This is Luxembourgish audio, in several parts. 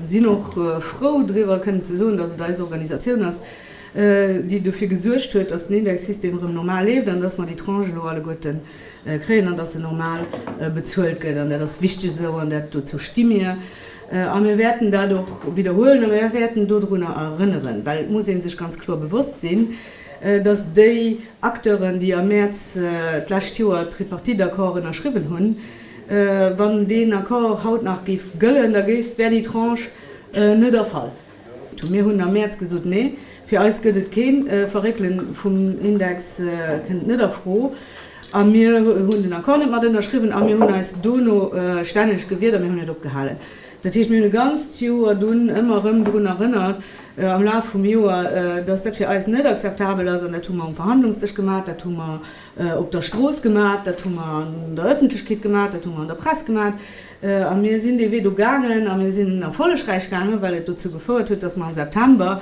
Mir sinn och frou driwwer kënnen ze soen, dass et eis Organisatioun ass, déi dofir gesuergt huet, dass den Indexsystem erëm normal leeft an dass mer déi Tranche elo alleguerten kréien an dass se normal bezuelt gëtt. An dat ass wichteg esou an dat, dozou sti mir a mir wäerten dat och widderhuelen a mir wäerten dodrunner erënneren, well et muss ee sech ganz kloer bewosst sinn, dass déi Acteuren, déi am Mäerz d'lescht Joer d'Tripartite-Accord ënnerschriwwen hunn, Wann deen Accord haut nach géif gëllen, da wär déi Tranche net erfall. Mir hunn am Mäerz gesot, Nee, fir eis gëtt et keen. D'Verréckele vum Index kënnt net a Fro. A mir hunn den Accord net mat ënnerschriwwen a mir hunn eis dono stänneg gewiert a mir hunn et opgehalen. Dat heescht, mir hunn e ganzt Joer dunn ëmmer erëm drun erënnert am Laf vum Joer, dass dat fir eis net akzeptabel ass. An dat hu mer um Verhandlungsdësch gemaach, dat hu mer op der Strooss gemat, dat hu mer an der Ëffentlechkeet gemat, dat hu mer an der Press gemat a mir sinn dee Wee do gaangen a mir sinn erfollegräich gaangen, well et dozou gefouert huet, datt mer am September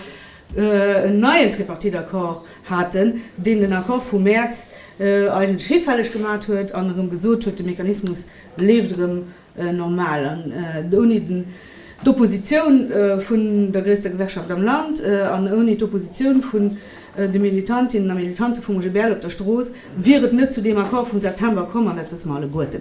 en neien Tripartite-Accord haten, deen den Accord vum Mäerz eigentlech hifälleg gemat huet an erëm gesot huet, de Mechanismus leeft erëm normal an ouni d'Oppositioun vun der gréisster Gewerkschaft am Land an ouni d'Oppositioun vun de Militantinnen a Militante vum OGBL op der Strooss wier et net zu deem Accord vum September komm, an dat wësse mer alleguerten.